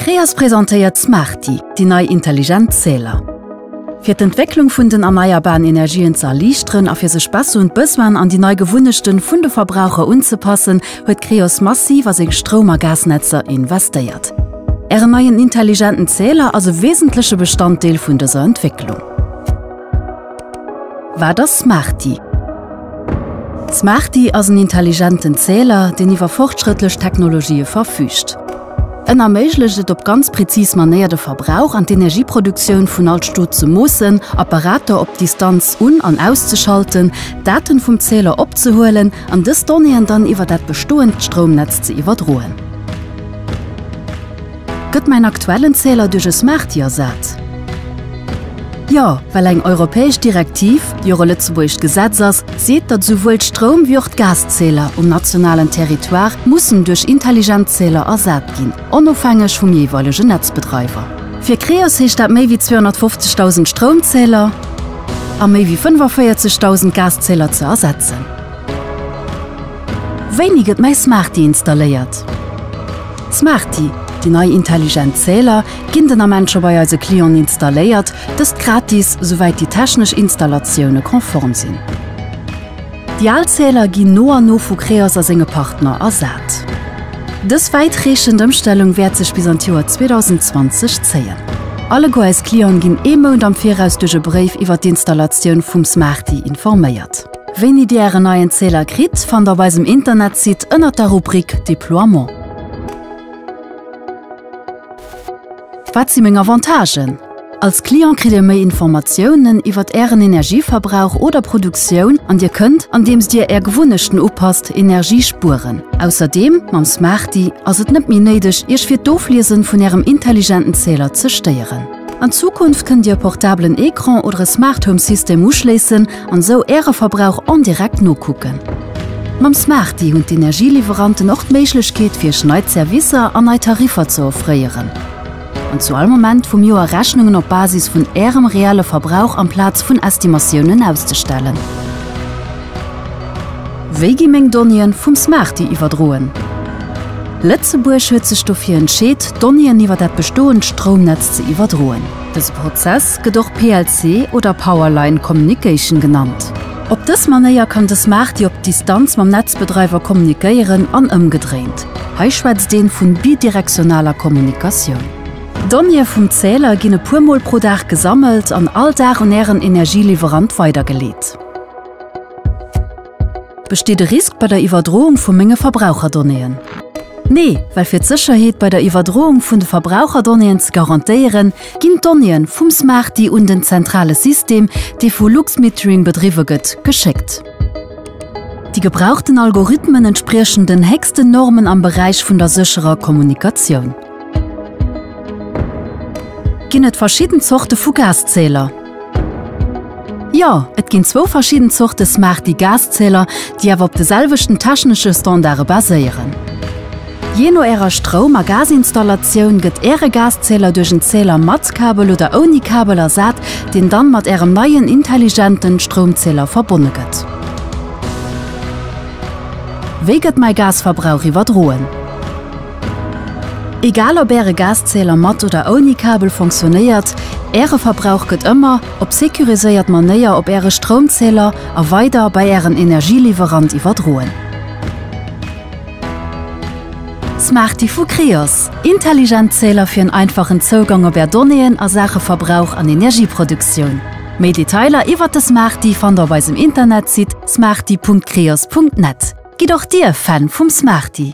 Creas presentéiert Smarty, déi nei intelligent Zähler. Fir d'Entwécklung vun den erneierbaren Energien ze erliichteren a fir sech besser un d'Besoinen an déi nei Gewunnechten vun de Verbraucher unzepassen, huet Creos massiv a seng Stroum a Gasnetzer investéiert. Ären neien intelligenten Zähler ass e wesentleche Bestanddeel vun dëser Entwécklung. Wat ass Smarty? D'Smarty ass en intelligenten Zähler, deen iwwer fortschrëttlech Technologië verfüügt. En erméiglecht et op ganz präzis Manéier de Verbrauch an d'Energieproduktioun vun all Stot ze moossen, Apparater op Distanz un an auszeschalten, Daten vum Zähler opzehuelen an dës Donnéeën dann iwwer dat bestoend Stroumnetz ze iwwerdroen. Gëtt mäin aktuellen Zähler duerch e Smarty ersat? Jo, well eng europäesch Direktiv, déi och e lëtzebuergescht Gesetz ass, seet, datt esouwuel d'Stroum wéi och d'Gaszähler um nationalen Territoire mussen duerch intelligent Zähler ersat ginn, onofhängeg vum jeeweilegen Netzbedreiwer. Fir Creos heescht dat méi wéi 250.000 Stroumzähler a méi wéi 45.000 Gaszähler ze ersetzen. Wéini gëtt mäi Smarty installéiert? Smarty, déi nei intelligent Zähler, ginn den Ament scho bei eise Clienten installéiert, dëst gratis, souwäit déi technesch Installatioune konform sinn. Déi al Zähler ginn no an no vu Creos a senge Partner ersat. Dës wäitreechend Ëmstellung wäert sech bis an d'Joer 2020 zéien. Alleguer eis Clienten ginn ee Mount am Viraus duerch e Bréif iwwer d'Installatioun vum Smarty informéiert. Wéini Dir ären neien Zähler kritt, fannt op eisem Internetsite ënnert der Rubrik Deploiement. Wat si meng Avantagen? Als Client kritt Dir méi Informatiounen iwwert ären Energieverbrauch oder Produktioun an Dir kënnt, andeems Dir är Gewunnechten upasst, Energie spueren. Ausserdeem, mam Smarty ass et net méi néideg, Iech fir d'Ofliesen vun ärem intelligenten Zähler ze stéieren. An Zukunft kënnt Dir e portablen Ecran oder e Smart Home System uschléissen an esou Äre Verbrauch en direct nokucken. Mam Smarty hunn d'Energieliwweranten och d'Méiglechkeet fir Iech nei Zerwisser an nei Tariffer ze offréieren an zu all Moment vum Joer Rechnungen op Basis vun Ärem reelle Verbrauch amplaz vun Estimatiounen auszestellen. Wéi gi meng Donnéeën vum Smarty iwwerdroen? Lëtzebuerg huet sech dofir entscheet, Donnéeën iwwer dat bestoend Stroumnetz ze iwwerdroen. Dëse Prozess gëtt och PLC oder Power Line Communication genannt. Op dës Manéier kann de Smarty op Distanz mam Netzbedreiwer kommunikéieren an ëmgedréint. Hei schwätzt een vun bidirektionaler Kommunikatioun. D'Donnéeë vum Zähler ginn e puer Mol pro Dag gesammelt an all Dag un Ären Energieliwwerant weidergeleet. Besteet e Risk bei der Iwwerdroung vu menge Verbraucherdonnéeën? Nee, well fir d'Sécherheet bei der Iwwerdroung vun de Verbraucherdonnéeën ze garantéieren, ginn d'Donnéeën vum Smarty un den zentrale System, dee vu Luxmetering bedriwwe gëtt, geschéckt. Déi gebrauchten Algorithmen entspriechen den héchsten Normen am Beräich vun der sécherer Kommunikatioun. Ginn et verschidden Zorte vu Gaszähler? Jo, et ginn zwou verschidden Zorte Smarty Gaszähler, déi awer op de selwechten technesche Standarde baséieren. Jee no Ärer Stroum a Gazinstallatioun gëtt Äre Gaszähler duerch en Zähler mat Kabel oder ouni Kabel ersat, deen dann mat Ärem neien intelligenten Stroumzähler verbonne gëtt. Wéi gëtt mäi Gasverbrauch iwwerdroen? Egal op Äre Gaszähler mat oder ouni Kabel fonctionnéiert, Äre Verbrauch gëtt ëmmer op securiséiert Manéier op Äre Stroumzähler a weider bei Ären Energieliwwerant iwwerdroen. Smarty vu Creos, intelligent Zähler fir en einfachen Zougang op Är Donnéeën a Saache Verbrauch an Energieproduktioun. Méi Detailer iwwert de Smarty fannt Der op eisem Internetsite smarty.creos.net. Gitt och Dir Fan vum Smarty!